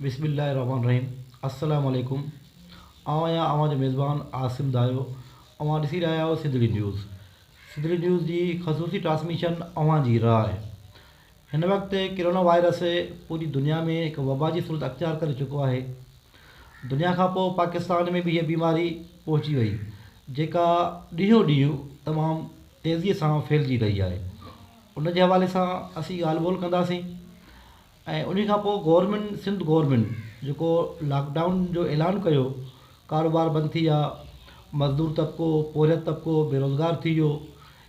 بسم الله الرحمن الرحيم السلام عليڪم آئون آهيان اوهان جو ميزبان عاصم دايو اوهان ڏسي رهيا آهيو سنڌڙي نيوز سنڌڙي نيوز جي خصوصي ٽرانسميشن اوهان جي راء هن وقت ڪرونا وائرس پوري دنيا ۾ هڪ وبا جي صورت اختيار ڪري چڪو آهي. دنيا کان پوء پاڪستان ۾ به هيء بيماري پهچي وئي، جيڪا ڏينهون ڏينهن تمام تيزيء سان ڦهلجي رهي آهي. ان جي حوالي سان اسين ڳالهه ٻولهه ڪنداسين ۽ انهي کان پوء گورنمينٽ سنڌ گورنمينٽ جيڪو لاڪ ڊائون جو اعلان ڪيو، ڪاروبار بند ٿي ويا، مزدور طبقو، پورهيت طبقو بيروزگار ٿي ويو.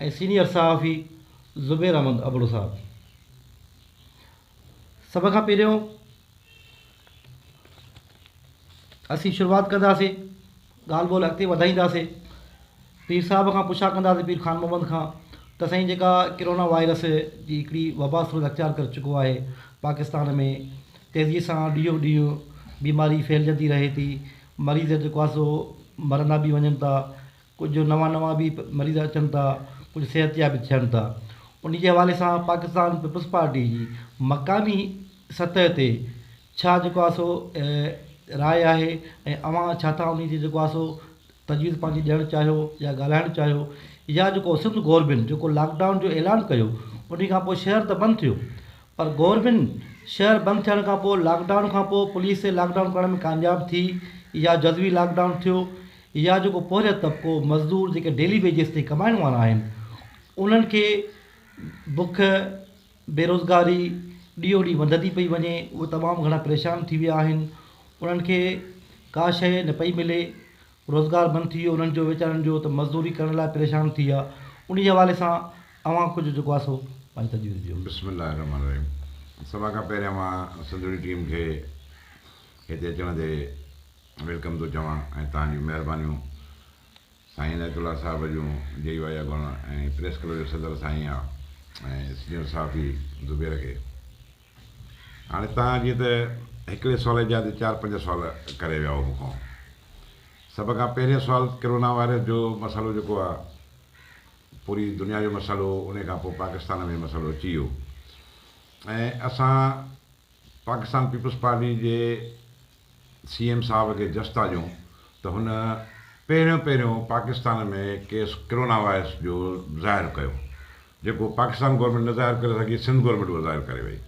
۽ سينيئر صحافي زبير احمد ابڙو صاحب سڀ کان پهريون اسين شروعات ڪنداسين ڳالهه ٻولهه اڳتي وڌائينداسين پير صاحب کان پڇا ڪنداسين پير خان محمد کان ته سائين جيڪا ڪرونا وائرس جي هڪڙي وبا صورت اختيار ڪري چڪو آهي پاڪستان ۾ تيزي سان ڏينهون ڏينهن بيماري ڦهلجندي رهي ٿي مريض جيڪو آهي سو مرندا به وڃن ٿا ڪجهه نوان نوان به مريض اچن ٿا ڪجهه صحتياب به ٿين ٿا انهي جي حوالي سان پاڪستان پيپلز پارٽي جي مقامي سطح تي ڇا جيڪو آهي سو راء آهي ۽ اوهان ڇا ٿا انهي جي جيڪو آهي سو تجويز پنهنجي ڏيڻ چاهيو يا ڳالهائڻ چاهيو يا جيڪو سنڌ گورمينٽ جيڪو لاڪ ڊائون جو اعلان ڪيو انهي کان پوء شهر ته بند ٿيو پر گورمينٽ شهر بند ٿيڻ کان پوء لاڪ ڊائون کان پوء پوليس لاڪ ڊائون ڪرڻ ۾ ڪامياب ٿي يا جزوي لاڪ ڊائون ٿيو يا جيڪو پوهريو طبقو مزدور جيڪي ڊيلي ويجز تي ڪمائڻ وارا آهن انهن کي بک بيروزگاري ڏينهون ڏينهن وڌندي پئي وڃي اهي تمام گهڻا پريشان ٿي ويا آهن انهن کي ڪا شيء نه پئي ملي روزگار بند ٿي ويو انهن جو ويچارن جو ته مزدوري ڪرڻ لاء پريشان ٿي ويا انهي حوالي سان اوهان ڪجهه جيڪو آهي سو پنهنجي تجويز ڏيو. بسم الله الرحمٰن الرحيم سڀان کان پهريان مان سنڌوڻي ٽيم کي هتي اچڻ تي ويلڪم ٿو چوان ۽ توهان جون مهربانيون سائين عنايت الله صاحب جون جي وايا گڻ ۽ پريس ڪلب جو صدر سائين آ ۽ سينئر صحافي زبير کي هاڻي توهان جيئن ته هڪڙي سوال جا تي چار پنج سوال ڪري ويا هو مون کان سڀ کان پهرين سوال ڪرونا وائرس جو مسئلو جيڪو آ پوري دنيا جو مسئلو ان کان پوء پاڪستان ۾ مسئلو اچي ويو ۽ اسان پاڪستان پيپلز پارٽي جي سي ايم صاحب کي جستا ڏيون ته هن پهريون پهريون پاڪستان ۾ ڪيس ڪرونا وائرس جو ظاهر ڪيو جيڪو پاڪستان گورنمينٽ نه ظاهر ڪري سگهي سنڌ گورنمينٽ اهو ظاهر ڪري وئي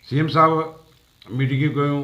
سي ايم صاحب ميٽنگيون ڪيون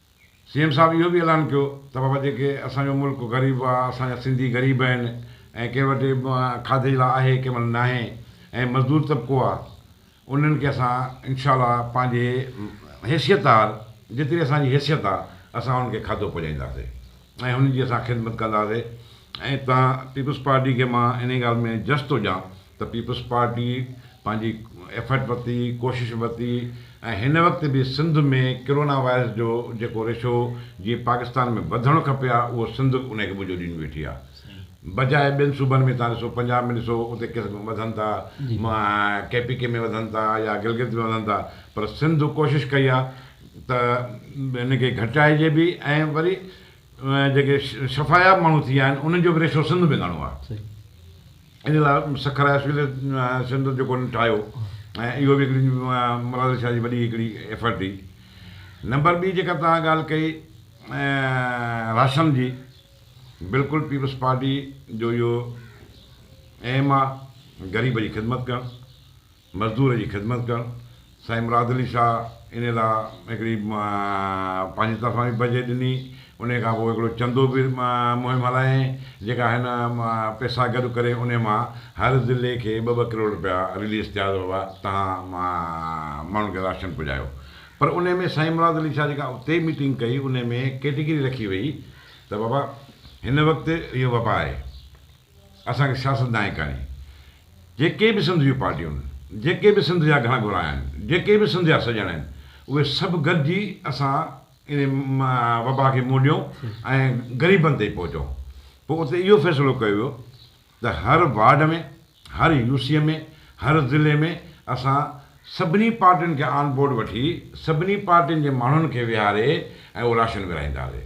سي ايم صاحب اهو به اعلان ڪيو ته بابا جيڪي اسان جو ملڪ غريب آ، اسان جا سنڌي غريب آهن ۽ ڪنهن وٽ کاڌي لاء آهي ڪنهن مهل ناهي ۽ مزدور طبقو آ انهن کي اسان انشاء الله پنهنجي حيثيت هار جيتري اسان جي حيثيت آ اسان انهن کي کاڌو پڄائينداسي ۽ انهن جي اسان خدمت ڪنداسي ۽ تان پيپلز پارٽي کي مان انهي ڳالهه ۾ جس ٿو ڏيان ته پيپلز پارٽي پنهنجي ايفرٽ ورتي، ڪوشش ورتي ۽ هن وقت به سنڌ ۾ ڪرونا وائرس جو جيڪو ريشو جيئن پاڪستان ۾ وڌڻ کپي ها اهو سنڌ به انهي کي منهنجو ڏيندي ويٺي ها بجاء ٻين صوبن ۾ توهان ڏسو پنجاب ۾ ڏسو اتي ڪيس وڌن ٿا ڪي پي ڪي ۾ وڌن ٿا يا گلگت ۾ وڌن ٿا پر سنڌ ڪوشش ڪئي ها ته هن کي گهٽائجي به ۽ وري جيڪي شفاياب ماڻهو ٿي ويا آهن انهن جو به ريشو سنڌ ۾ گهڻو آهي ان لاء سکر هاء اسڪول سينٽر جيڪو انهن ٺاهيو ۽ اهو به هڪڙي مراد شاهه جي وڏي هڪڙي ايفرٽ هئي نمبر ٻي جيڪا توهان ڳالهه ڪئي راشن جي بلڪل پيپلز پارٽي جو اهو ايم آهي غريب جي خدمت ڪرڻ مزدور جي خدمت ڪرڻ. سائين مراد علي شاهه انهي لاء هڪڙي پنهنجي طرفان به بجيٽ ڏني. انهي کان پوء هڪڙو چندو به مهم هلايائين، جيڪا هن پئسا گڏ ڪري انهي مان هر ضلعي کي ٻه ٻه ڪروڙ رپيا رليز ٿيا ته بابا توهان ماڻهن کي راشن پڄايو. پر انهي ۾ سائين مراد علي شاهه جيڪا اتي ميٽنگ ڪئي انهي ۾ ڪيٽيگري رکي وئي ته بابا هن وقت اهو وبا آهي. اسان کي سياستدان ئي ڪانهي. جيڪي به سنڌ جون پارٽيون آهن، جيڪي به سنڌ جا گهڻا گهرا آهن، جيڪي به سنڌ جا سڄڻ آهن، اهي سڀ گڏجي اسان انهي وبا کي منهن ڏيون ۽ غريبن تائين پهچون. پوء اتي اهو فيصلو ڪيو ويو ته هر وارڊ ۾، هر يو سي ۾، هر ضلعي ۾ اسان سڀني پارٽين کي آن بورڊ وٺي سڀني پارٽين جي ماڻهن کي ويهاري ۽ اهو راشن ورهائينداسي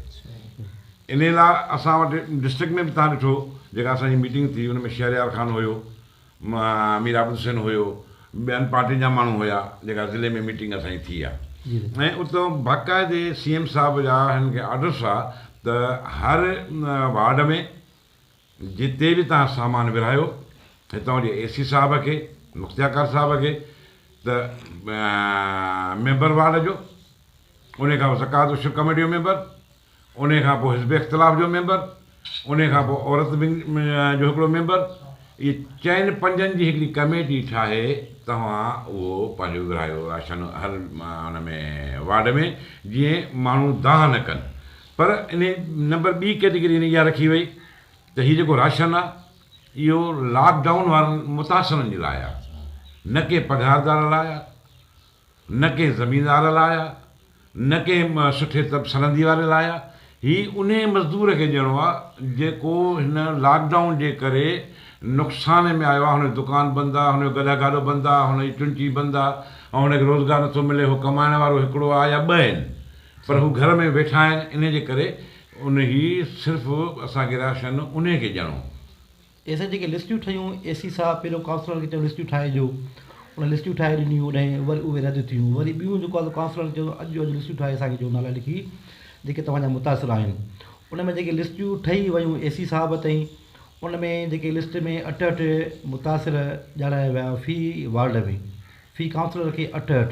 انهي لا اسان وٽ ڊسٽرڪٽ ۾ به تهان ڏٺو جيڪا اسان جي ميٽنگ ٿي ان ۾ شهريار خان هيو مير عابد حسين هيو ٻين پارٽين جا ماڻهو هيا جيڪا ضلعي ۾ ميٽنگ اسان جي ٿي آهي ۽ اتان باقاعدي سي ايم صاحب جا هن کي آرڊرس هئا ته هر وارڊ ۾ جتي به توهان سامان ورهايو هتان جي اي سي صاحب کي، مختياڪار صاحب کي ته ميمبر وارڊ جو، انهي کان پوء زڪوات اشر ڪميٽي جو ميمبر، انهي کان پوء حزب اختلاف جو ميمبر، انهي کان پوء عورت ونگ جو هڪڙو ميمبر، اهي چئن پنجن جي هڪڙي ڪميٽي ٺاهي توهان اهو پنهنجو ورهايو راشن هر ان ۾ وارڊ ۾ جيئن ماڻهو دانهن نه ڪن. پر انهي نمبر ٻي ڪيٽيگري ۾ اها رکي وئي ته هي جيڪو راشن آهي اهو لاڪ ڊائون وارن متاثرن جي لاء آهي نه ڪنهن پگهاردار لاء آهي نه ڪنهن زميندار لاء آهي نه ڪنهن سٺي طب سرندي واري لاء آهي هي انهي مزدور کي ڏيڻو آهي جيڪو هن لاڪ ڊائون جي ڪري نقصان ۾ آيو آهي هن جو دڪان بند آهي هن جو گڏهه گاڏو بند آهي هن جي چنچي بند آهي ۽ هن کي روزگار نٿو ملي هو ڪمائڻ وارو هڪڙو آهي يا ٻه آهن پر هو گهر ۾ ويٺا آهن انهي جي ڪري انهي صرف اسان کي راشن انهي کي ڏيڻو. ايسين جيڪي لسٽيون ٺهيون اي سي صاحب پهريون ڪائونسلرن کي چيو لسٽيون ٺاهي ڏيو انهن لسٽيون ٺاهي ڏنيون هوڏهين وري اهي رد ٿيون وري ٻيون جيڪو آهي ڪائونسلرن چيو اڄ جو اڄ لسٽيون ٺاهي اسان کي ڏيو نالا لکي جيڪي توهان جا متاثر آهن ان ۾ جيڪي لسٽيون ٺهي ويون اي سي صاحب تائين ان ۾ جيڪي لسٽ ۾ اٺهٺ متاثر ڄاڻايا ويا في وارڊ ۾ في ڪائونسلر کي اٺهٺ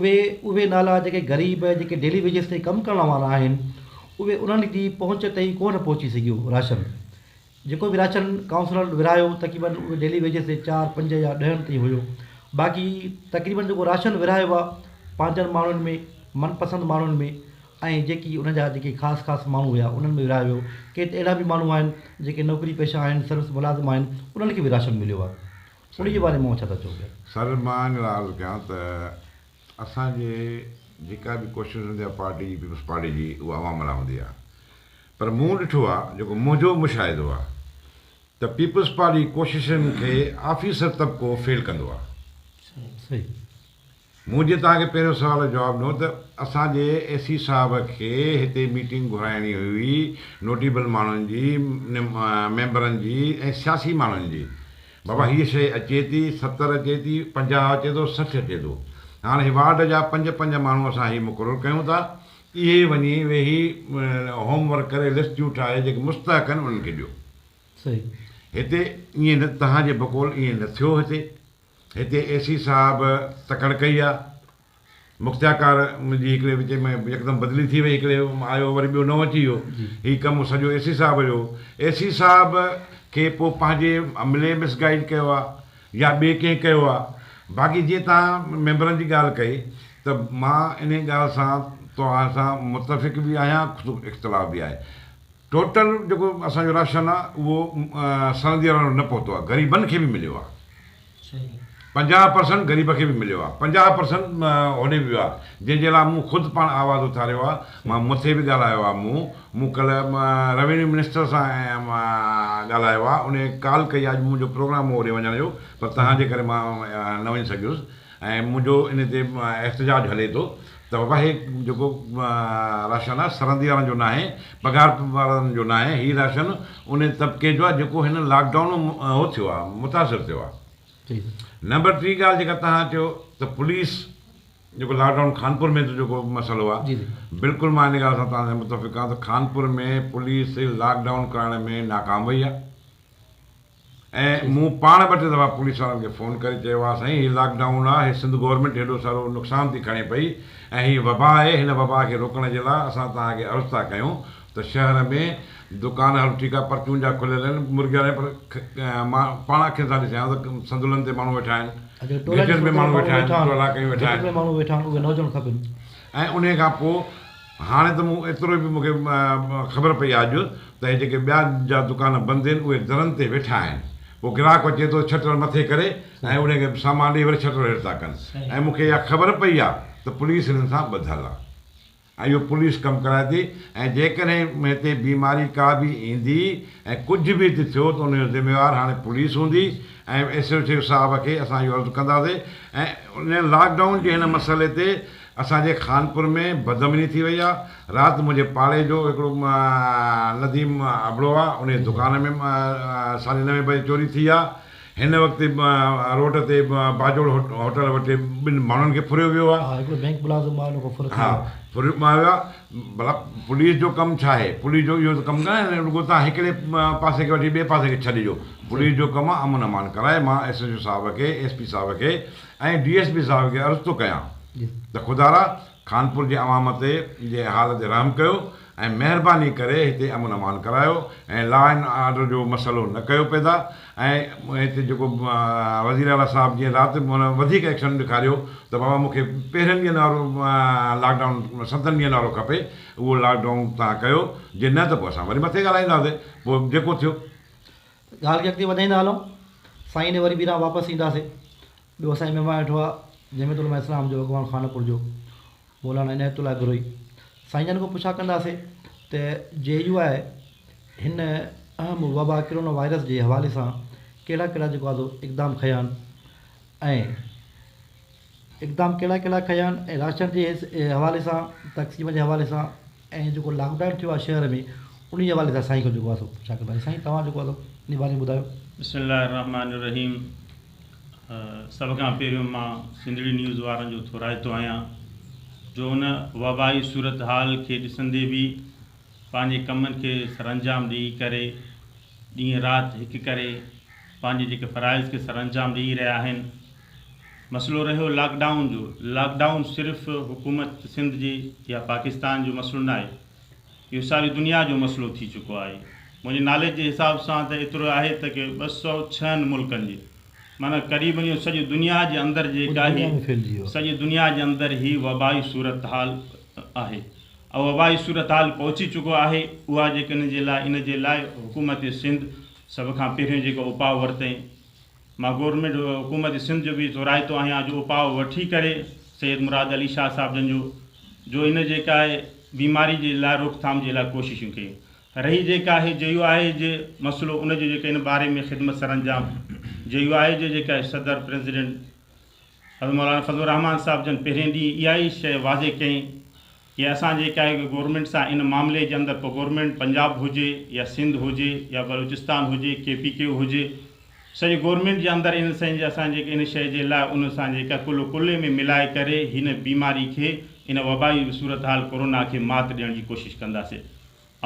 اهي اهي نالا جيڪي غريب جيڪي ڊيلي ويجز تي ڪم ڪرڻ وارا آهن اهي انهن جي پهچ تائين ڪونه پهچي سگهيو راشن جيڪو به راشن ڪائونسلر ورهايو تقريبن اهي ڊيلي ويجز تي چار پنج يا ڏهن تائين هيو باقي تقريبن جيڪو راشن ورهايو آهي پنهنجن ماڻهن ۾ من پسند ماڻهن ۾ ۽ جيڪي انهن جا جيڪي خاص خاص ماڻهو هيا انهن ۾ ورهايو ويو ڪي ته اهڙا به ماڻهو آهن جيڪي نوڪري پيشه آهن سروس ملازم آهن انهن کي به راشن مليو آهي انهي جي باري مان اوهان ڇا ٿا چئو پيا؟ سر مان ان لاء عرض ڪيان ته اسان جي جيڪا به ڪوشش هوندي آهي پارٽي جي پيپلز پارٽي جي اها عوام لاء هوندي آهي پر مون ڏٺو آهي جيڪو منهنجو مشاهدو آهي ته پيپلز پارٽي جي ڪوششن کي آفيسر طبقو فيل ڪندو آهي. مون جي توهان کي پهريون سوال جو جواب ڏنو ته اسان جي اي سي صاحب کي هتي ميٽنگ گهرائڻي هئي نوٽيبل ماڻهن جي، ميمبرن جي ۽ سياسي ماڻهن جي. بابا هيء شيء اچي ٿي، ستر اچي ٿي، پنجاهه اچي ٿو، سٺ اچي ٿو. هاڻ هي وارڊ جا پنج پنج ماڻهو اسان هي مقرر ڪيون ٿا. اهي وڃي ويهي هوم ورڪ ڪري لسٽيون ٺاهي جيڪي مستحق آهن انهن کي ڏيو. صحيح. هتي ائين نه توهان جي بقول ائين نه ٿيو هتي. هتي اي سي صاحب تڪڙ ڪئي آ. مختياڪار جي هڪڙي وچ ۾ يڪدم بدلي ٿي وئي هڪڙي آيو وري ٻيو نئون اچي ويو هي ڪم سڄو اي سي صاحب جو هو اي سي صاحب کي پو پنهنجي عملي مس گائيڊ ڪيو آ يا ٻي ڪنهن ڪيو آ باقي جيئن توهان ميمبرن جي ڳالهه ڪئي ته مان انهي ڳالهه سان توهان سان متفق به آهيان اختلاف به آهي. ٽوٽل جيڪو اسان جو راشن آ اهو سرندياڻن وٽ نه پهتو آ غريبن کي به مليو آ پنجاهه پرسنٽ غريب کي به مليو آ پنجاهه پرسنٽ هوڏي به ويو آ جنهن جي لاء مون خود پاڻ آواز اٿاريو آ مان مٿي به ڳالهايو آ مون مون ڪلهه روينيو منسٽر سان ڳالهايو آ انهي ڪال ڪئي آ اڄ منهنجو پروگرام هو هوڏي وڃڻ جو پر توهان جي ڪري مان نه وڃي سگهيس ۽ منهنجو ان تي احتجاج هلي ٿو ته بابا هي جيڪو راشن آهي سرندي وارن جو ناهي پگهار وارن جو ناهي هي راشن ان طبقي جو آهي جيڪو هن لاڪ ڊائون ۾ هو ٿيو آهي متاثر ٿيو آهي نمبر ٽي ڳالهه جيڪا توهان چيو ته پوليس جيڪو لاڪ ڊائون خانپور ۾ جيڪو مسئلو آهي بلڪل مان ان ڳالهه سان توهان سان متفق آهيان ته خانپور ۾ پوليس لاڪ ڊائون ڪرائڻ ۾ ناڪام وئي آهي ۽ مون پاڻ ٻه ٽي دفعا پوليس وارن کي فون ڪري چيو ها سائين هي لاڪ ڊائون آ هي سنڌ گورنمينٽ هيڏو سارو نقصان ٿي کڻي پئي ۽ هي وبا آهي هن وبا کي روڪڻ جي لا اسان توهان کي عرض ٿا ڪيون ته شهر ۾ دڪان هلو ٺيڪ آ پرچون جا کليل آهن مرگيا رهن پر مان پاڻ اکين سان ڏسيان ٿو ته سندولن تي ماڻهو ويٺا آهن گهٽين ۾ ماڻهو ويٺا آهن ٽولا ڪيون ويٺا آهن ۽ انهي کان پو هاڻي ته مون ايترو به مون کي خبر پئي آ جو ته هي جيڪي ٻيا جا دڪان بند آهن اهي درن تي ويٺا آهن پوء گراهڪ اچي ٿو ڇٽر مٿي ڪري ۽ انهي کي سامان ڏئي وري ڇٽر هيٺ ٿا ڪن ۽ مون کي اها خبر پئي آ ته پوليس هنن سان ٻڌل آ ۽ اهو پوليس ڪم ڪرائي ٿي ۽ جيڪڏهن هتي بيماري ڪا به ايندي ۽ ڪجهه به هتي ٿيو ته انهي جو ذميوار هاڻي پوليس هوندي ۽ ايس ايڇ او صاحب کي اسان اهو عرض ڪنداسي ۽ ان لاڪ ڊائون جي هن مسئلي تي اسان جي خانپور ۾ بدامني ٿي وئي آ، رات منهنجي پاڙي جو هڪڙو نديم ابڙو آ، انهي دڪان ۾ ساڍي نوين بجي چوري ٿي آ، هن وقت روڊ تي باجوڙ هوٽل وٽ ٻن ماڻهن کي ڦريو ويو آ. ها هڪڙو بينڪ ملازم ماء لوڪو ڦر ٿي ويو آ. ڦريو ماء ويو آ، ڀلا پوليس جو ڪم ڇا آهي، پوليس جو اهو ته ڪم ڪانهي نه رڳو توهان هڪڙي پاسي کي وٺي ٻئي پاسي کي ڇڏي ڏيو، پوليس جو ڪم آ امن امان ڪرائي، مان ايس ايڇ او صاحب کي ايس پي صاحب کي ۽ ڊي ايس پي صاحب کي عرض ٿو ڪيان ته خدارا خانپور جي عوام تي جي حال تي رحم ڪيو ۽ مهرباني ڪري هتي امن امان ڪرايو ۽ لا اينڊ آرڊر جو مسئلو نه ڪيو پيدا ۽ هتي جيڪو وزير اعليٰ صاحب جي رات هن وڌيڪ ايڪشن ڏيکاريو ته بابا مونکي پهرين ڏينهن وارو لاڪ ڊائون ستن ڏينهن وارو کپي اهو لاڪ ڊائون توهان ڪيو جي نه ته پوء اسان وري مٿي ڳالهائينداسي پوء جيڪو ٿيو ڳالهه کي اڳتي وڌائيندا هلون. سائين ڏي وري ٻيران واپس اينداسي. ٻيو اسان جي مهمان ويٺو آهي جمعيت علماء اسلام جو اڳواڻ خانپور جو مولانا عنايت الله گروهي. سائين جن کان پڇا ڪنداسي ته جي يو آء هن اهم وبا ڪرونا وائرس جي حوالي سان ڪهڙا ڪهڙا جيڪو آزو اقدام کنيا آهن ۽ اقدام ڪهڙا ڪهڙا کنيا آهن ۽ راشن جي حوالي سان تقسيم جي حوالي سان ۽ جيڪو لاڪ ڊائون ٿيو آهي شهر ۾ انهي حوالي سان سائين کان جيڪو آهي سو پڇا ڪنداسين سائين توهان جيڪو آهي سو انهي باري ۾ ٻڌايو. بسم الله الرحمٰن الرحيم سڀ کان پهريون مان سنڌڙي نيوز وارن جو ٿورائتو آهيان جو ان وبائي صورتحال کي ڏسندي به پنهنجي ڪمن کي سرانجام ڏئي ڪري ڏينهن رات هڪ ڪري پنهنجي جيڪي فرائض کي سرانجام ڏئي رهيا آهن مسئلو رهيو لاڪ ڊائون جو، لاڪ ڊائون صرف حڪومت سنڌ جي يا پاڪستان جو مسئلو ناهي، اهو ساري دنيا جو مسئلو ٿي چڪو آهي. منهنجي ناليج جي حساب سان ته ايترو آهي ته ڪي ٻه سؤ ڇهن ملڪن جي معنيٰ قريبن اهو سڄي دنيا جي اندر جيڪا هي سڄي دنيا جي اندر هي وبائي صورتحال آهي اهو وبائي صورتحال پهچي چڪو آهي اها جيڪا ان جي لاء ان جي لاء حڪومت سنڌ سڀ کان پهريون جيڪو اپاء ورتئين مان گورنمينٽ حڪومت سنڌ جو به ٿورائتو آهيان جو اپاء وٺي ڪري سيد مراد علي شاهه صاحب جن جو جو ان جيڪا آهي بيماري جي لاء روڪٿام جي لاء ڪوششون ڪي رهي جيڪا آهي جيو آء اي جي مسئلو ان جو جيڪا ان باري ۾ خدمت سرانجام جيو آء اي جي جيڪا آهي صدر پريزيڊنٽ حضرت مولانا فضل الرحمان صاحب جن پهرين ڏينهن اها ئي شيء واضح ڪئي جي اسان جي ڪا هڪ گورنمينٽ سان ان معاملي جي اندر پوء گورنمينٽ پنجاب هجي يا سنڌ هجي يا بلوچستان هجي ڪي پي ڪيو هجي سڄي گورنمينٽ جي اندر ان سين جي اسان جيڪي ان شئي جي لاء ان سان جيڪا ڪل و ڪلي ۾ ملائي ڪري هن بيماري کي ان وبائي صورتحال ڪورونا کي مات ڏيڻ جي ڪوشش ڪنداسي.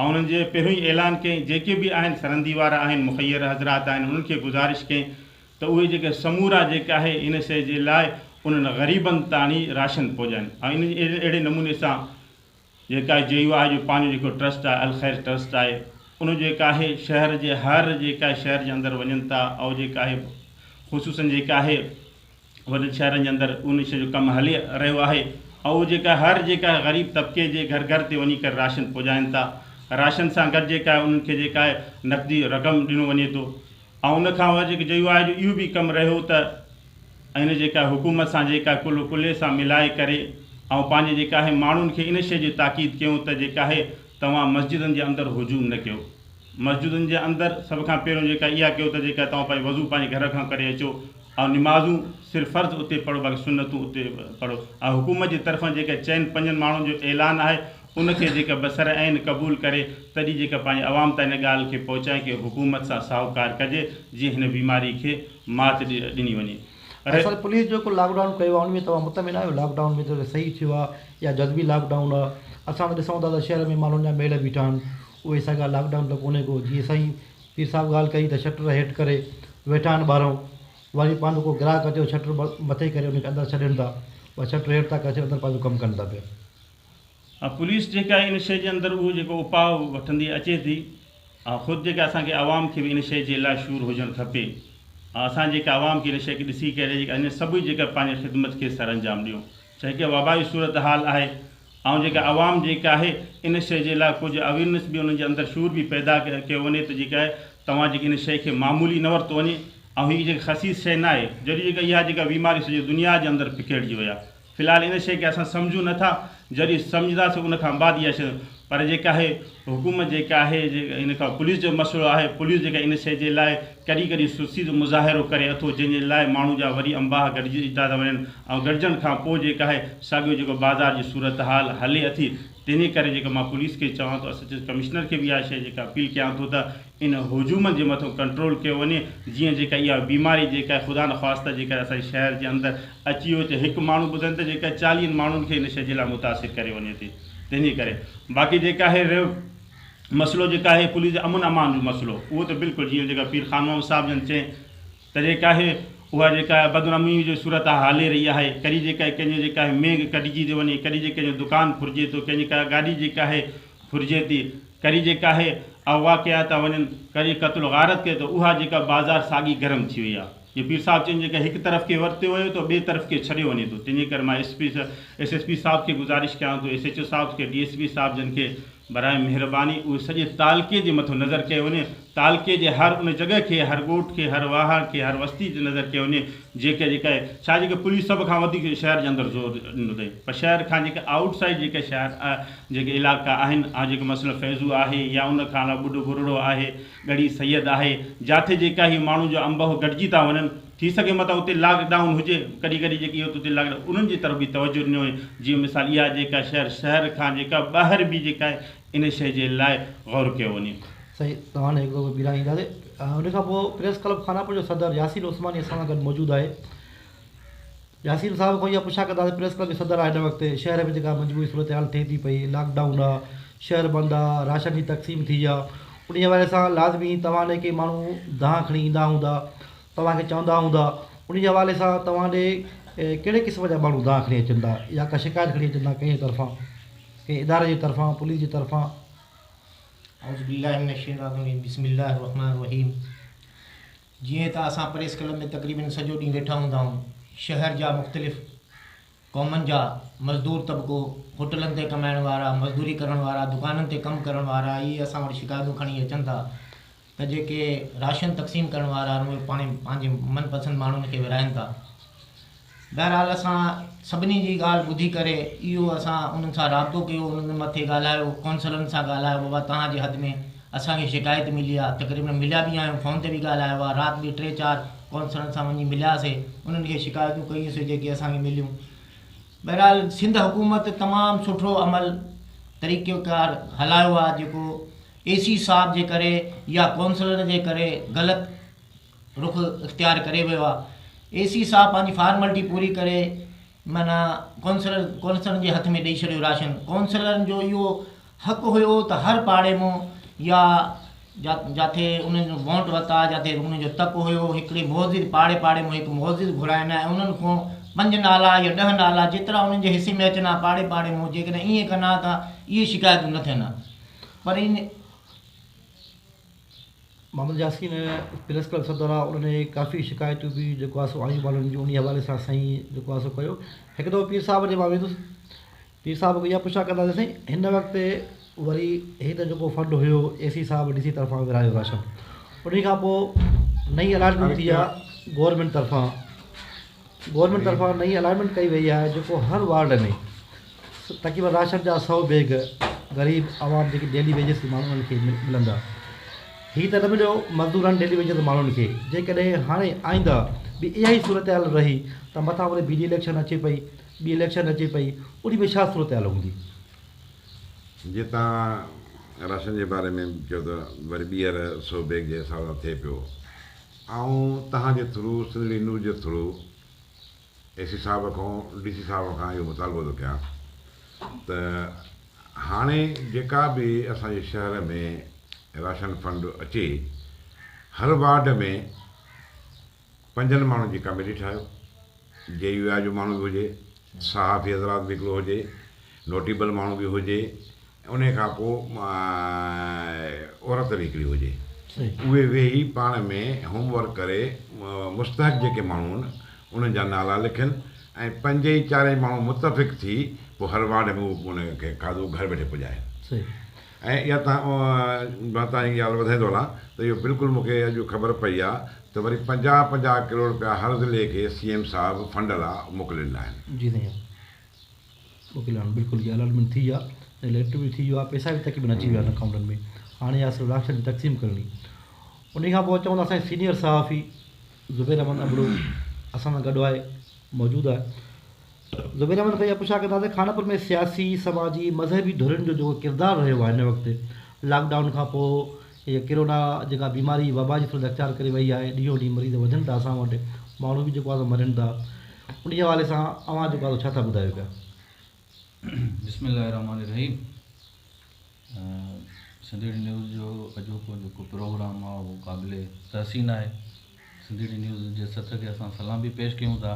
آئون انهن جي پهريون ئي اعلان ڪيائين جيڪي به آهن سرندي وارا آهن مخير حضرات آهن انهن کي گذارش ڪيائين ته اهي جيڪي سمورا جيڪي آهي ان سي جي لاء انهن غريبن تاڻي راشن پهجائين ۽ ان جي اهڙي نموني سان جيڪا جي يو آهي جو پنهنجو جيڪو ٽرسٽ آهي الخير ٽرسٽ آهي ان جيڪا آهي شهر جي هر جيڪا شهر جي اندر وڃن ٿا ۽ جيڪا آهي خصوصن جيڪا آهي وڏن شهرن جي اندر ان شيء جو ڪم هلي رهيو آهي ۽ اهو جيڪا هر جيڪا غريب طبقي جي گهر گهر تي وڃي ڪري راشن پڄائين ٿا راشن سان گڏ جيڪا انهن کي جيڪا نقدي رقم ڏنو وڃي ٿو ۽ ان کان وڌ جيڪو جيو آهي جو اهو به ڪم رهيو ته ان جيڪا حڪومت سان جيڪا ڪلهو ڪلهي سان ملائي ڪري ۽ پنهنجي جيڪا آهي ماڻهن کي ان شيء جي تاڪيد ڪيون ته جيڪا آهي توهان مسجدن جي اندر هجوم نه ڪيو مسجدن جي اندر سڀ کان پهريون جيڪا اها ڪيو ته جيڪا توهان پنهنجو وضو پنهنجي گهر کان ڪري اچو اهو نمازون صرف فرض اتي پڙهو باقي سنتون اتي پڙهو ۽ حڪومت جي طرفان جيڪا چئن پنجن ماڻهن جو اعلان آهي ان کي جيڪا بسر عين قبول ڪري تڏهن جيڪا پنهنجي عوام تان ان ڳالهه کي پهچائي ڪي حڪومت سان ساهوڪار ڪجي جيئن هن بيماري کي مات ڏني وڃي رهي. اسان پوليس جيڪو لاڪ ڊائون ڪيو آهي ان ۾ توهان مطمئن آهيو لاڪ ڊائون ۾ ته صحيح ٿيو آهي يا جزوي لاڪ ڊائون آهي اسان ته ڏسون ٿا ته شهر ۾ مالهن جا ميڙ بيٺا آهن اهي ساڳا لاڪ ڊائون ته ڪونهي ڪو جيئن سائين پير صاحب ڳالهه ڪئي ته شٽر هيٺ ڪري ويٺا آهن ٻاهرئون واري پانڌو ڪو گراهڪ اچي ته شٽر مٿي ڪري ان کي اندر ڇڏين ٿا ٻئا شٽر هيٺ ٿا ڪري ڇڏين اندر پنهنجو ڪم ڪن ٿا پيا. ها پوليس جيڪي آهي ان شيء جي اندر اهو جيڪو اپاء وٺندي اچي ٿي ها خود جيڪي اسان کي عوام کي به ان شيء جي لا شعور هجڻ کپي ها اسان جيڪي عوام کي ان شيء کي ڏسي ڪري جيڪي ان سڀ جيڪي پنهنجي خدمت کي سرانجام ڏيون ڇا هڪ وبائي صورتحال آهي ۽ جيڪا عوام جيڪا آهي ان شيء جي لاء ڪجهه اويرنس به انهن جي اندر شعور به پيدا ڪيو وڃي ته جيڪا آهي توهان جيڪي ان شيء کي معمولي نه ورتو وڃي ۽ هي جيڪا خسيس شيء نه آهي جڏهن جيڪا اها جيڪا بيماري سڄي دنيا جي اندر پکيڙجي وئي آهي في الحال ان شيء کي اسان سمجهون نه ٿا جڏهن سمجهنداسين ان کان بعد اها شيء پر جيڪا آهي حڪومت جيڪا آهي ان کان پوليس جو مسئلو آهي پوليس جيڪا ان شئي جي لاء ڪڏهن ڪڏهن سستي جو مظاهرو ڪري اٿو جنهن جي لاء ماڻهو جا وري انباهه گڏجندا ٿا وڃن ۽ گڏجڻ کان پوء جيڪا آهي ساڳيو جيڪو بازار جي صورتحال هلي اٿي تنهن جي ڪري جيڪا مان پوليس کي چوان ٿو اسسٽنٽ ڪمشنر کي به اها شئي جيڪا اپيل ڪيان ٿو ته ان هجومن جي مٿو ڪنٽرول ڪيو وڃي جيئن جيڪا اها بيماري جيڪا آهي خدا نه خواستي جيڪا اسان جي شهر جي اندر اچي ويو ته هڪ ماڻهو ٻڌن ته جيڪا چاليهن ماڻهن کي ان شئي جي لاء متاثر ڪري وڃي ٿي. تنهن جي ڪري باقي جيڪي آهي رهيو مسئلو جيڪي آهي پوليس جي امن امان جو مسئلو اهو ته بلڪل جيئن جيڪا پير خان محمد صاحب جن چين ته جيڪا آهي اها جيڪا آهي بدنامي جو صورت آهي هلي رهي آهي ڪڏهن جيڪا آهي ڪنهن جو جيڪا آهي مينگ ڪٽجي ٿي وڃي ڪڏهن جيڪا جو دڪان ڦرجي ٿو ڪنهن جي ڪا گاڏي جيڪا آهي ڦرجي ٿي ڪري جيڪا آهي اغوا ڪيا ٿا وڃن ڪري قتل غارت ڪي ته اها جيڪا بازار ساڳي گرم ٿي وئي آهي جي پير صاحب چين جيڪڏهن هڪ طرف کي ورتيو ويو ته ٻئي طرف کي ڇڏيو وڃي ٿو تنهنجي ڪري مان S P S S P صاحب کي گذارش ڪيان ٿو ايس ايڇ او صاحب کي ڊي ايس پي صاحب جن کي براهه مهرباني اهي سڄي تعلقي جي مٿو نظر ڪيو وڃي تعلقي جي هر ان جڳهه کي هر ڳوٺ کي هر واهڻ کي هر وستي تي نظر ڪيو وڃي جيڪي جيڪي ڇا جيڪي پوليس سڀ کان وڌيڪ شهر جي اندر زور ڏنو اٿئي پر شهر کان جيڪي آئوٽ سائيڊ جيڪي شهر جيڪي علائقا آهن ها جيڪي مثلا فيضو آهي يا ان کان علاوه ٻڍو ٻرڙو آهي ڳڙهي سيد آهي جاٿي جيڪا هي ماڻهو جو انبهه گڏجي ٿا وڃن ٿي سگهي متان اتي لاڪ ڊائون هجي ڪڏهن ڪڏهن جيڪي هي اتي لاڪ ڊائون انهن جي طرف به توجهه ڏنو وڃي جيئن مثال اها جيڪا شهر شهر کان جيڪا ٻاهر به جيڪا آهي ان شئي جي لاء غور ڪيو وڃي. سائين توهان هڪ دفعو ٻيران اينداسي ان کان پوء پريس ڪلب خاناپور جو صدر ياسين عثماني اسان سان گڏ موجود آهي ياسين صاحب کان اها پڇا ڪندا ته پريس ڪلب جو صدر آ هن وقت شهر ۾ جيڪا مجموعي صورتحال ٿئي ٿي پئي لاڪ ڊائون آ شهر بند آ راشن جي تقسيم ٿي آ انهي حوالي سان لازمي توهان ڏي ڪي ماڻهو دانهن کڻي ايندا هوندا توهان کي چوندا هوندا انهي حوالي سان توهان ڏي ڪهڙي قسم جا ماڻهو دانهن کڻي اچن ٿا يا ڪا شڪايت کڻي اچن ٿا ڪنهن طرفان ڪنهن اداري جي طرفان پوليس جي طرفان اعوذ بالله من الشيطان الرجيم بسم الله الرحمن الرحيم جيئن ته اسان پريس ڪلب ۾ تقريبن سڄو ڏينهن ويٺا هوندا آهيون، شهر جا مختلف قومن جا مزدور طبقو، هوٽلن تي ڪمائڻ وارا، مزدوري ڪرڻ وارا، دڪانن تي ڪم ڪرڻ وارا اهي اسان وٽ شڪايتون کڻي اچن ٿا ته جيڪي راشن تقسيم ڪرڻ وارا آهن اهي پاڻهي پنهنجي من پسند ماڻهن کي ورهائين ٿا. بهرحال اسان سڀني جي ڳالهه ٻڌي ڪري اهو اسان انهن سان رابطو ڪيو انهن مٿي ڳالهايو ڪونسلرن سان ڳالهايو بابا توهان جي حد ۾ اسان کي شڪايت ملي آهي تقريبن مليا به آهيون فون تي به ڳالهايو آهي رات به ٽي چار ڪونسلرن سان وڃي ملياسي انهن کي شڪايتون ڪيون سي جيڪي اسان کي مليون بهرحال سنڌ حڪومت تمام سٺو عمل طريقو ڪار هلايو آهي جيڪو اي سي صاحب جي ڪري يا ڪونسلر جي ڪري غلط رخ اختيار ڪري ويو آ اي سي صاحب پنهنجي فارملٽي پوري ڪري معنيٰ ڪونسلر ڪونسلرن جي هٿ ۾ ڏئي ڇڏيو راشن ڪونسلرن جو اهو حق هيو ته هر پاڙي مون يا جاٿي انهن جو وونٽ وتا جاٿي انهن جو تڪ هيو هڪڙي معزز پاڙي پاڙي مون هڪ معزز گهرائن ۽ انهن کون پنج نالا يا ڏهه نالا جيترا انهن جي حصي ۾ اچن ها پاڙي پاڙي مون جيڪڏهن ائين ڪن ها ته اهي شڪايتون نه ٿين ها پر ان محمد ياسين پريس ڪلب صدر آ انهن اهي ڪافي شڪايتون به جيڪو آ سو آيون والن جون انهي حوالي سان سائين جيڪو آ سو ڪيو هڪ دفعو پير صاحب ڏي مان ويندس پير صاحب کان اها پڇا ڪنداسين سائين هن وقت وري هي ته جيڪو فنڊ هيو اي سي صاحب ڊي سي طرفان ورهايو راشن انهي کان پوء نئين الاٽمينٽ ٿي آ گورمينٽ طرفان گورنمينٽ طرفان نئين الائيٽمينٽ ڪئي وئي آهي جيڪو هر وارڊ ۾ تقريبن راشن جا سئو بيگ غريب عوام جيڪي ڊيلي ويجز تي ماڻهو انهن کي ملندا هي ته نه مليو مزدورن ڊيلي ويجز ماڻهن کي جيڪڏهن هاڻي آئنده به اها ئي صورتحال رهي ته مٿان وري ٻي اليڪشن اچي پئي ٻي اليڪشن اچي پئي انهي ۾ ڇا صورتحال هوندي. جي توهان راشن جي باري ۾ چئو ته وري ٻيهر سئو بيگ جي حساب سان ٿئي پيو. آئون توهان جي ٿرو سنڌڙي نيوز جي ٿرو اي سي صاحب کان ڊي سي صاحب کان اهو مطالبو ٿو ڪيان ته هاڻي جيڪا به اسان جي شهر ۾ راشن فنڊ اچي هر وارڊ ۾ پنجن ماڻهن جي ڪميٽي ٺاهيو جي يو آء جو ماڻهو به هجي صحافي حضرات به هڪڙو هجي نوٽيبل ماڻهو به هجي انهيء کان پوء عورت نڪري هجي، اهي ويهي پاڻ ۾ هوم ورڪ ڪري مستحق جيڪي ماڻهو هئن، انهن جا نالا لکن ۽ پنج ئي چارئي ماڻهو متفق ٿي پوء هر وارڊ ۾ ان کي کاڌو گهر ويٺي پڄائين. ۽ اها تان مان تان هي ڳالهه وڌائيندو هلان ته اهو بلڪل مون کي اڄ خبر پئي آهي ته وري پنجاهه پنجاهه ڪروڙ رپيا هر ضلعي کي سي ايم صاحب فنڊ لا موڪلي ڏنا آهن. وڪيل هاڻ بلڪل جي الاٽمينٽ ٿي آ ۽ ليٽر به ٿي ويو آ پيسا به تقريبن اچي ويا آهن اڪائونٽن ۾ هاڻي آ صرف راشن جي تقسيم ڪرڻي انهي کان پوء چون ٿا اسان جي سينيئر صحافي زبير احمد ابڙو اسان سان گڏ آهي موجود آهي زبير احمد کان اها پڇا ڪندا ته خانپور ۾ سياسي سماجي مذهبي ڌرين جو جيڪو ڪردار رهيو آهي هن وقت لاڪ ڊائون کان پوء هيء ڪرونا جيڪا بيماري وبا جي صورت اختيار ڪري وئي آهي، ڏينهون ڏينهن مريض وڌن ٿا اسان وٽ، ماڻهو به جيڪو آهي سو مرن ٿا، انهيء حوالي سان اوهان جيڪو آهي سو ڇا ٿا ٻڌايو پيا؟ بسم الله الرحمٰن الرحيم سنڌي ڊي نيوز جو اڄوڪو جيڪو پروگرام آهي اهو قابل تحسين آهي سنڌي ڊي نيوز جي سٿ کي اسان سلام به پيش ڪيون ٿا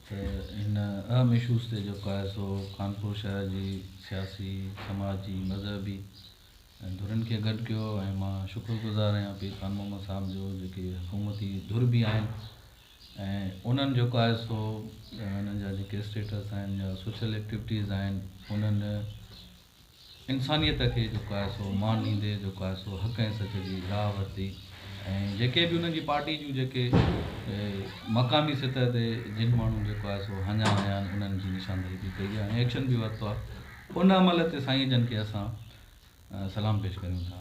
ته هن اهم اشوز تي جيڪو آهي سو خانپور شهر جي سياسي سماجي مذهبي ۽ ڌرين کي گڏ ڪيو ۽ مان شڪر گذار آهيان پير خان محمد صاحب جو جيڪي حڪومتي ڌر به آهن ۽ انهن جيڪو آهي سو انهن جا جيڪي اسٽيٽس آهن يا سوشل ايڪٽيوٽيز آهن انهن انسانيت کي جيڪو آهي سو مان ڏيندي جيڪو آهي سو حق ۽ سچ جي راهه ورتي ۽ جيڪي به انهن جي پارٽي جون جيڪي مقامي سطح تي جن ماڻهن جيڪو آهي سو هنيا هنيا آهن انهن جي نشاندهي به ڪئي آهي ۽ ايڪشن به ورتو آهي ان عمل تي سائين جن کي اسان سلام پيش ڪريون ٿا.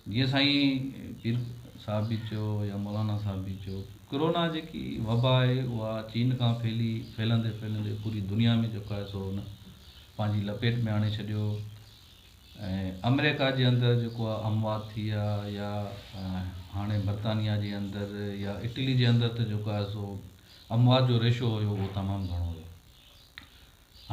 جيئن سائين پير صاحب به چيو يا مولانا صاحب به چيو ڪرونا جيڪي وبا آهي اها چين کان ڦهلي ڦهلندي ڦهلندي پوري دنيا ۾ جيڪو آهي سو ان پنهنجي لپيٽ ۾ آڻي ڇڏيو ۽ آمريڪا جي اندر جيڪو آهي اموات ٿي ويا يا هاڻي برطانيا جي اندر يا اٽلي جي اندر ته جيڪو آهي سو اموات جو ريشو هيو اهو تمام گهڻو هيو.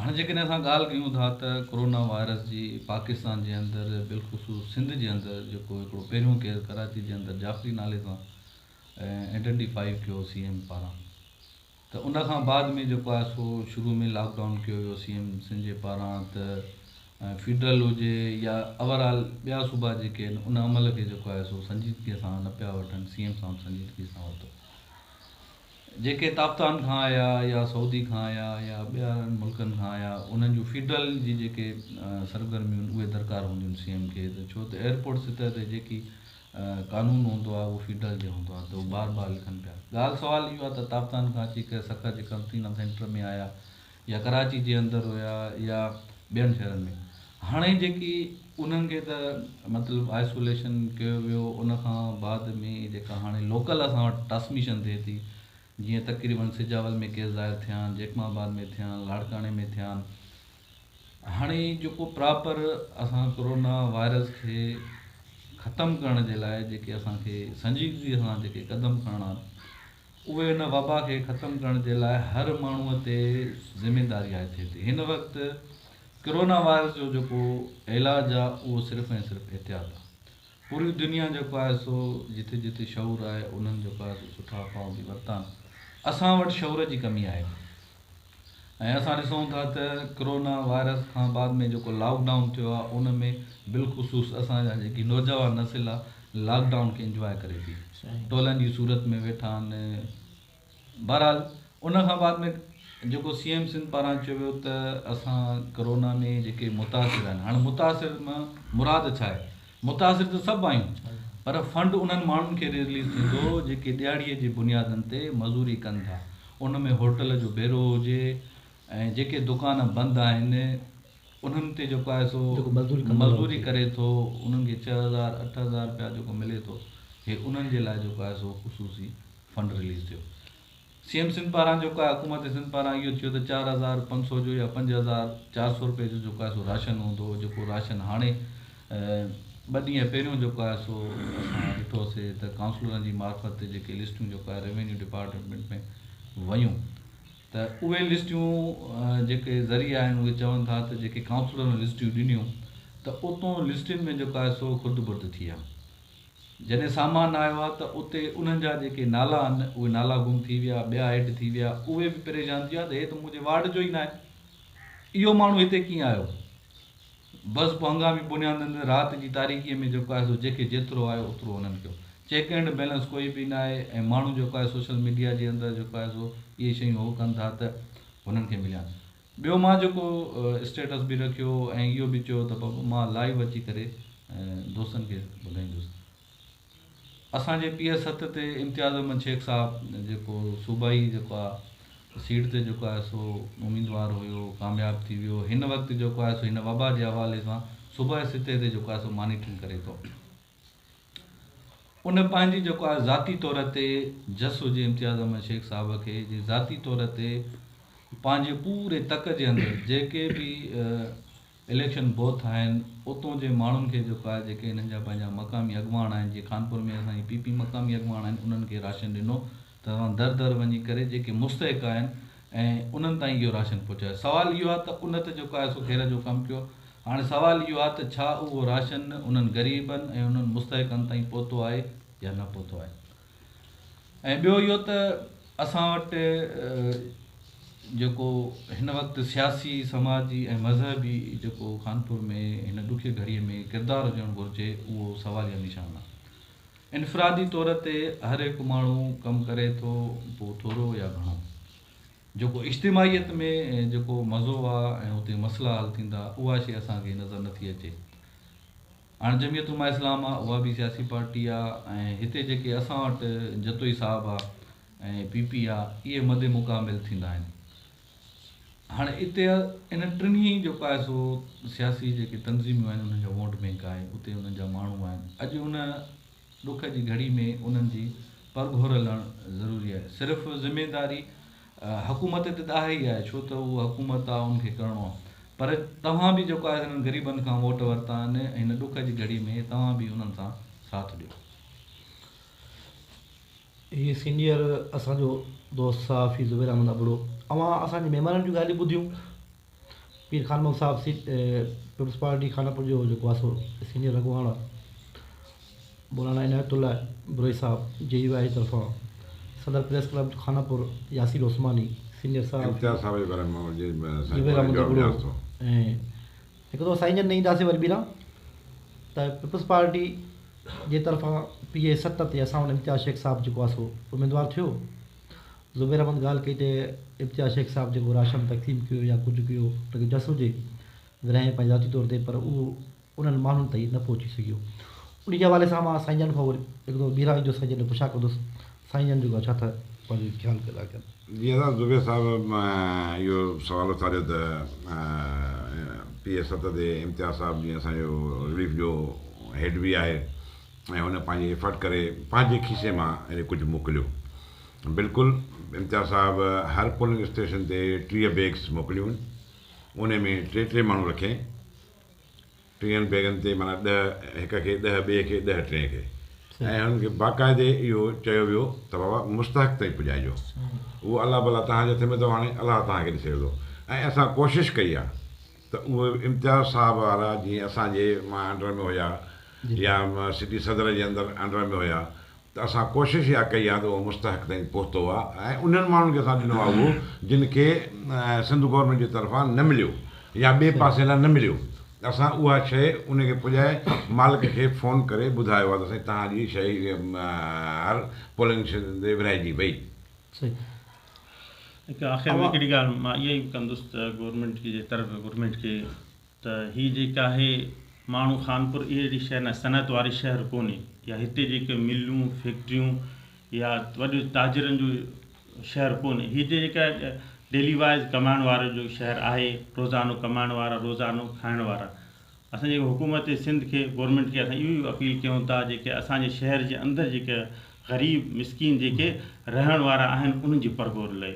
هاڻ جيڪڏهن اسان ڳالهه ڪيون ٿا ته ڪورونا وائرس جي پاڪستان جي اندر بالخصوص سنڌ جي اندر جيڪو هڪڙو پهريون ڪيس ڪراچي جي اندر جعفري نالي سان ائڊنٽي فائي ڪيو سي ايم پاران ته ان کان بعد ۾ جيڪو آهي سو شروع ۾ لاڪ ڊائون ڪيو ويو سي ايم سنڌ جي پاران ته فيڊرل هجي يا اوور آل ٻيا صوبا جيڪي آهن ان عمل کي جيڪو آهي سو سنجيدگي سان نه پيا وٺن سي ايم صاحب سنجيدگي سان ورتو جيڪي تابتان کان آيا يا سعودي کان آيا يا ٻين ملڪن کان آيا انهن جون فيڊرل جي جيڪي سرگرميون آهن اهي درڪار هونديون آهن سي ايم کي ته ڇو ته ايئرپورٽ سطح تي جيڪي قانون هوندو آهي اهو فيڊرل جي هوندو آهي ته هو بار بار لکن پيا ڳالهه سوال اهو آهي ته تابتان کان اچي ڪنهن سکر جي قرنطينه سينٽر ۾ آيا يا ڪراچي جي اندر هيا يا ٻين شهرن ۾ هاڻي جيڪي انهن کي ته مطلب آئسوليشن ڪيو ويو ان کان بعد ۾ جيڪا هاڻي لوڪل اسان وٽ ٽرانسميشن ٿئي ٿي جيئن تقريبن سجاول ۾ ڪيس ظاهر ٿيا آهن جيڪم آباد ۾ ٿيا آهن لاڙڪاڻي ۾ ٿيا آهن هاڻي جيڪو پراپر اسان ڪورونا وائرس کي ختم ڪرڻ جي لاء جيڪي اسانکي سنجيدگي سان جيڪي قدم کڻڻا اهي ان وبا کي ختم ڪرڻ جي لاء هر ماڻهو تي ذميداري عائد ٿئي ٿي هن وقت ڪرونا وائرس جو جيڪو علاج آ اهو صرف ۽ صرف احتياط آ پوري دنيا جيڪو آهي سو جٿي جٿي شعور آهي انهن جيڪو آهي سو سٺا اپائون ٿي ورتان اسان وٽ شعور جي ڪمي آهي ۽ اسان ڏسون ٿا ته ڪرونا وائرس کان بعد ۾ جيڪو لاڪ ڊائون ٿيو آهي ان ۾ بلخصوص اسان جا جيڪي نوجوان نسل آهي لاڪ ڊائون کي انجواء ڪري ٿي ٽولن جي صورت ۾ ويٺا آهن بهرحال ان کان بعد ۾ جيڪو سي ايم سنڌ پاران چيو ويو ته اسان ڪرونا ۾ جيڪي متاثر آهن هاڻي متاثر مان مراد ڇا آهي متاثر ته سڀ آهيون پر فنڊ انهن ماڻهن کي ريليز ٿيندو جيڪي ڏيهاڙي جي بنيادن تي مزوري ڪن ٿا ان ۾ هوٽل جو بيرو هجي ۽ جيڪي دڪان بند آهن انهن تي جيڪو آهي سو مزوري ڪري ٿو انهن کي ڇهه هزار اٺ هزار رپيا جيڪو ملي ٿو هي انهن جي لاء جيڪو آهي سو خصوصي فنڊ ريليز ٿيو. سي ايم سنڌ پاران جيڪو آهي حڪومت سنڌ پاران اهو ٿيو ته چار هزار پنج سؤ جو يا پنج هزار چار سؤ روپئي جو جيڪو آهي سو راشن هوندو هو جيڪو راشن هاڻي ٻه ڏينهن پهريون جيڪو آهي سو اسان ڏٺو سي ته ڪائونسلرن جي معرفت تي جيڪي لسٽون جيڪو آهي روينيو ڊپارٽمينٽ ۾ ويون ته اهي لسٽون جيڪي ذريعا آهن اهي چون ٿا ته جيڪي ڪائونسلرن لسٽون ڏنيون ته اتون لسٽن ۾ جيڪو آهي سو خرد برد ٿي آهي جڏهن سامان نه آيو آ ته اتي انهن جا جيڪي نالا آهن اهي نالا گم ٿي ويا، ٻيا ايڊ ٿي ويا، اهي به پريشان ٿي ويا ته هي ته منهنجي وارڊ جو ئي ناهي، اهو ماڻهو هتي ڪيئن آيو؟ بس پوء هنگامي بنيادن تي رات جي تاريڪيء ۾ جيڪو آهي سو جيڪي جيترو آيو اوترو انهن ڪيو. چيڪ اينڊ بيلنس ڪوئي به ناهي ۽ ماڻهو جيڪو آهي سوشل ميڊيا جي اندر جيڪو آهي سو اهي شيون هو ڪن ٿا ته هنن کي مليان. ٻيو مان جيڪو اسٽيٽس به رکيو ۽ اهو به چيو ته بابو مان لائيو اچي ڪري دوستن کي ٻڌائيندس ته اسان جي پي ايس ست تي امتياز احمد شيخ صاحب جيڪو صوبائي جيڪو آهي سيٽ تي جيڪو آهي سو اميدوار هيو ڪامياب ٿي ويو هن وقت جيڪو آهي سو هن وبا جي حوالي سان صوبائي سطح تي جيڪو آهي سو مانيٽرنگ ڪري ٿو ان پنهنجي جيڪو آهي ذاتي طور تي جس هجي امتياز احمد شيخ صاحب کي جي ذاتي طور تي پنهنجي پوري تڪ جي اندر جيڪي به اليڪشن بوٿ آهن اتون جي ماڻهن کي جيڪو آهي جيڪي هنن جا پنهنجا مقامي اڳواڻ آهن جي خانپور ۾ اسان جي پي پي مقامي اڳواڻ آهن انهن کي راشن ڏنو ته اوهان در در وڃي ڪري جيڪي مستحق آهن ۽ انهن تائين اهو راشن پهچايو سوال اهو آهي ته ان ته جيڪو آهي سو خير جو ڪم ڪيو هاڻي سوال اهو آهي ته ڇا اهو راشن انهن غريبن ۽ انهن مستحقن تائين پهتو آهي يا نه پهتو آهي ۽ ٻيو اهو ته اسان وٽ جيڪو هن وقت سياسي سماجي ۽ مذهبي جيڪو خانپور ۾ هن ڏکي گهڙي ۾ ڪردار هجڻ گهرجي اهو سواليه نشان آهي انفرادي طور تي هر هڪ ماڻهو ڪم ڪري ٿو پوء ٿورو يا گهڻو جيڪو اجتماعيت ۾ جيڪو مزو آ ۽ اتي مسئلا حل ٿيندا اها شي اسان کي نظر نٿي اچي هاڻ جميعت علماء اسلام آ اها به سياسي پارٽي آ ۽ هتي جيڪي اسان وٽ جتوئي صاحب آ ۽ پي پي آ اهي مد مقابل ٿيندا آهن. هاڻي اتي ان ٽنهي جو پائسو سياسي جيڪي تنظيميون آهن انهن جا ووٽ بينڪ آهي اتي انهن جا ماڻهو آهن اڄ ان ڏک جي گهڙي ۾ انهن جي پرگهور لهڻ ضروري آهي صرف ذميداري حڪومت تي ته آهي ئي آهي ڇو ته اهو حڪومت آهي ان کي ڪرڻو آهي پر توهان به جيڪو آهي انهن غريبن کان ووٽ ورتا آهن هن ڏک جي گهڙي ۾ توهان به انهن سان ساٿ ڏيو هي سينيئر اسان جو دوست صحافي زبير احمد ابڙو اوهان اسان جي مهمانن جون ڳالهيون ٻڌيون پير خان مل صاحب سي پيپلز پارٽي خانپور جو جيڪو آسو سينيئر اڳواڻ آهي مولانا عنايت الله ابڙوي صاحب جي يو آء جي طرفان صدر press club Khanpur Yasir Usmani senior صحافي امتياز صاحب جي باري ۾ جي زبير احمد ابڙو ۽ هڪ دفعو سائين جن نه اينداسين وري ٻيران ته پيپلز پارٽي جي طرفان پي اي ست تي اسان وٽ امتياز شيخ صاحب جيڪو آهي سو اميدوار ٿيو. زبير احمد ڳالهه ڪئي ته امتياز شيخ صاحب جيڪو راشن تقسيم ڪيو يا ڪجهه ڪيو ان کي جس هجي ورهايائين پنهنجي ذاتي طور تي پر اهو انهن ماڻهن تائين نه پهچي سگهيو. انهي جي حوالي سان مان سائين جن کان هڪ دفعو ٻيهر ايندس ۽ جن کي پڇا ڪندس. سائين جان جوڳا ڇا ٿا پنهنجي خيال ڪيل آهي ڪن. جي اسان زبير صاحب اهو سوال اٿاريو ته پي اي ست تي امتياز صاحب جيئن اسان جو رليف جو هيڊ به آهي ۽ هن پنهنجي ايفرٽ ڪري پنهنجي کيسي مان هيڏي ڪجهه موڪليو بلڪل امتياز صاحب هر پولنگ اسٽيشن تي ٽيهه بيگس موڪليون انهي ۾ ٽي ٽي ماڻهو رکي ٽيهن بيگن تي معنيٰ ڏهه هڪ کي، ڏهه ٻئي کي، ڏهه ٽئين کي ۽ انهن کي باقاعدي اهو چيو ويو ته بابا مستحق تائين پڄائجو اهو الله بلا توهان جي هٿ ۾ اٿو هاڻي الله توهان کي ڏسي ويندو ۽ اسان ڪوشش ڪئي آ ته اهي امتياز صاحب وارا جيئن اسان جي مان انڊر ۾ هيا يا سٽي صدر جي اندر انڊر ۾ هيا ته اسان ڪوشش اها ڪئي آ ته اهو مستحق تائين پهتو آ ۽ انهن ماڻهن کي اسان ڏنو آ اهو جن کي سنڌ گورنمينٽ جي طرفان نه مليو يا ٻئي پاسي لاء نه مليو ته اسان اها شيء ان کي پڄائي مالڪ کي فون ڪري ٻڌايو آ ته سائين تهان جي شيء هر پولنگ اسٽيشن تي ورهائجي وئي. هڪ آخر ۾ هڪڙي ڳالهه مان اها ئي ڪندس ته گورنمينٽ جي طرف گورنمينٽ کي ته هي جيڪي آهي ماڻهو خانپور اهي اهڙي شيء نه صنعت واري شهر ڪونهي يا هتي جيڪي ملون فيڪٽريون يا وڏي تاجرن جو شهر ڪونهي هي جي جيڪي ڊيلي وائز ڪمائڻ وارو جو شهر آهي روزانو ڪمائڻ وارا روزانو کائڻ وارا اسان جي حڪومت سنڌ کي گورمينٽ کي اسان اهو اپيل ڪيون ٿا جيڪي اسان جي شهر جي اندر جيڪي غريب مسڪين جيڪي رهڻ وارا آهن انهن جي پرگور لئي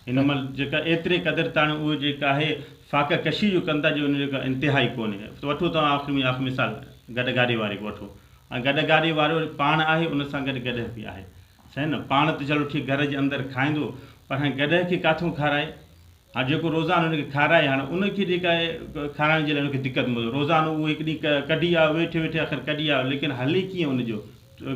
هن مهل جيڪا ايتري قدر تاڻي اهو جيڪا آهي فاقه ڪشي جو ڪن ٿا جو ان جو ڪا انتها ئي ڪونهي سو وٺو توهان آخري ۾ آخري مثال گڏهه گاڏي واري کي وٺو ۽ گڏهه گاڏي وارو پاڻ آهي ان سان گڏ گڏهه به آهي صحيح نه پاڻ ته چلو ٺيڪ گهر جي اندر کائيندو پر هاڻي گڏهه کي ڪاٿون کارائي هاڻي جيڪو روزانو ان کي کارائي هاڻي ان کي جيڪا کارائڻ جي لاء ان کي دقت مزو روزانو اهو هڪ ڏينهن ڪڍي آيو ويٺي ويٺي آخر ڪڍي آيو ليڪن هلي ڪيئن ان جو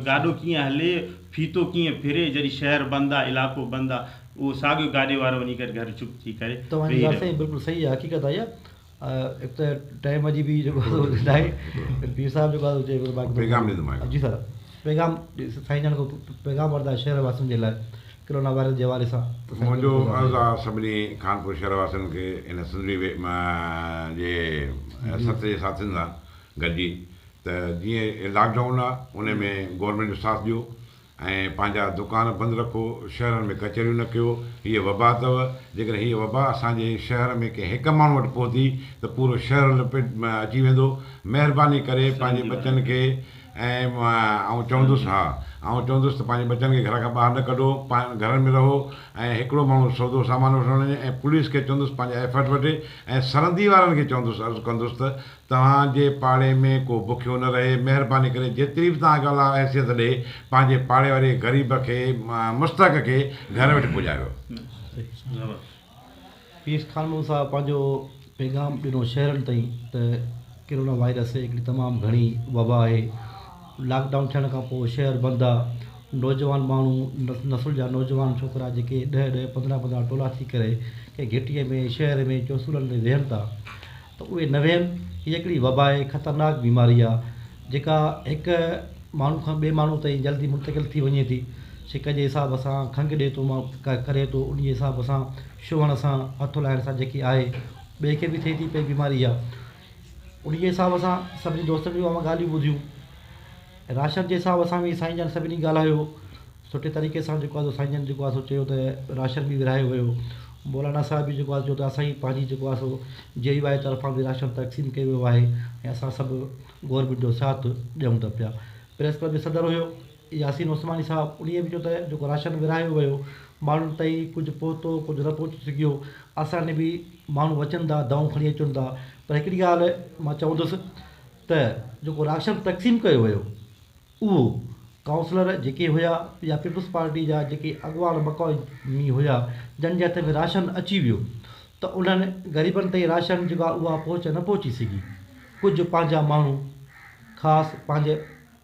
گاڏو ڪيئن هلي، ڦيٿو ڪيئن ڦري، جڏهن شهر بند آ، علائقو بند آ، اهو ساڳيو گاڏي وارو وڃي ڪري گهر چپ ٿي ڪري ويهي رهيو. توهان جي ڳالهه سائين بلڪل صحيح آ حقيقت آ اها هڪ ته ٽائيم جي به جيڪو ناهي پير صاحب جيڪو آ چئي پيو ته پيغام ڏيندو مان هڪ جي سر پيغام سائين جان ڪو پيغام وردا شهر واسين جي لاء ڪرونا وائرس جي حوالي سان ته سائين منهنجو عرض آ سڀني خانپور شهر واسين کي هن سنڌڙي جي ست جي ساٿين سان گڏجي ته جيئن لاڪ ڊائون آ ان ۾ گورنمينٽ جو ساٿ ڏيو ۽ پنهنجا دڪان بند رکو شهرن ۾ ڪچهريون نه ڪيو هيء وبا اٿو جيڪڏهن هيء وبا اسان جي شهر ۾ ڪنهن هڪ ماڻهو وٽ پهتي ته پورو شهر لپيٽ ۾ اچي ويندو مهرباني ڪري پنهنجي ٻچن کي ۽ آئون چوندس ها آئون چوندس ته پنهنجي ٻچن کي گهر کان ٻاهر نه ڪڍو پنهن گهرن ۾ رهو ۽ هڪڙو ماڻهو سودو سامان وٺڻ وڃي ۽ پوليس کي چوندس پنهنجا ايفرٽ وٺي ۽ سرندي وارن کي چوندس عرض ڪندس ته توهان جي پاڙي ۾ ڪو بکيو نه رهي، مهرباني ڪري جيتري به توهان کي الله حيثيت ڏئي، پنهنجي پاڙي واري غريب کي، مستحق کي گهر وٺي پڄاريو. پير خان محمد صاحب پنهنجو پيغام ڏنو شهرين تائين ته ڪرونا وائرس هڪڙي تمام گهڻي وبا آهي، لاڪ ڊائون ٿيڻ کان پوء شهر بند آ، نوجوان ماڻهو نسل جا نوجوان ڇوڪرا جيڪي ڏهه ڏهه پندرهن پندرهن ٽولا ٿي ڪري ڪنهن گهٽيء ۾ شهر ۾ چوسولن تي ويهن ٿا، ته اهي نه ويهن، هيء هڪڙي وبا ۽ خطرناڪ بيماري آهي، جيڪا هڪ ماڻهو کان ٻئي ماڻهو تائين جلدي منتقل ٿي وڃي ٿي، ڇڪ جي حساب سان، کنگهه ڏي ٿو ماڻهو ڪري ٿو، انهيء حساب سان ڇهڻ سان، هٿ هلائڻ سان جيڪي آهي، ٻئي کي به ٿئي ٿي پئي بيماري اها. انهيء حساب سان سڀني دوستن جون اهي ڳالهيون ٻڌيون ۽ راشن جي حساب سان به سائين جان سڀني ڳالهايو. سٺي طريقي سان جيڪو آهي سو سائين جن جيڪو آهي سو چيو ته راشن به ورهايو ويو مولانا صاحب به جيڪو آهي چيو ته اسان جي پنهنجي جيڪو آهي سو جي يو آهي طرفان به راشن تقسيم ڪيو ويو آهي ۽ اسان سڀ گورنمينٽ جو ساٿ ڏيون ته پيا پريس ڪلب جو صدر هيو ياسين عثماني صاحب انهيء به چيو ته جيڪو راشن ورهايو ويو ماڻهن تائين ڪجهه پهتو ڪجهه نه پهچي سگهيو اسان ڏي به ماڻهو اچن ٿا دائون کڻي اچن ٿا پر هڪڙي ڳالهه مان چوندس ته جيڪو راشن تقسيم ڪيو ويو اهو ڪائونسلر جيڪي هيا يا پيپلز پارٽي جا جيڪي اڳواڻ مقامي هيا جن جي هٿ ۾ راشن اچي ويو ته انهن غريبن تائين راشن جيڪو آهي اها پهچ نه پهچي سگهي ڪجهه پنهنجا ماڻهو خاص پنهنجي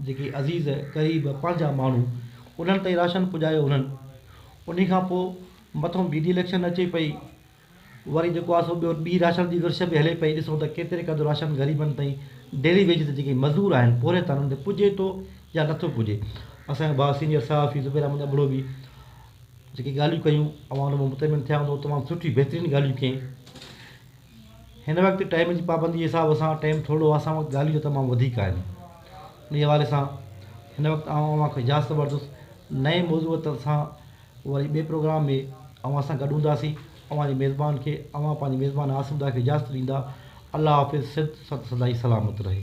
جيڪي عزيز قريب پنهنجا ماڻهو انهن تائين راشن پڄايو انهن انهي کان پوء مٿو ٻي ڊي اليڪشن اچي پئي وري جيڪو آسو ٻيو ٻي راشن جي ورڇ به هلي پئي ڏسون ته ڪيتري قدر راشن غريبن تائين ڊيلي ويج تي جيڪي مزدور آهن پورهيت آهن انهن تي پڄي ٿو يا نٿو پڄي اسان جو ڀاء سينيئر صحافي زبير احمد ابڙو به جيڪي ڳالهيون ڪيون اوهان ان مان مطمئن ٿيا هوندو تمام سٺي بهترين ڳالهيون ڪيائين هن وقت ٽائيم جي پابندي جي حساب سان ٽائيم ٿورڙو اسان وقت ڳالهيون جو تمام وڌيڪ آهن ان حوالي سان هن وقت آئون اوهان کي اجازت وٺندس نئين موضوع سان وري ٻئي پروگرام ۾ اوهان سان گڏ هونداسين اوهان جي ميزبان کي اوهان پنهنجي ميزبان عاصم ڏاهه کي اجازت ڏيندا الله حافظ سڌ ست سدائين سلامت رهي.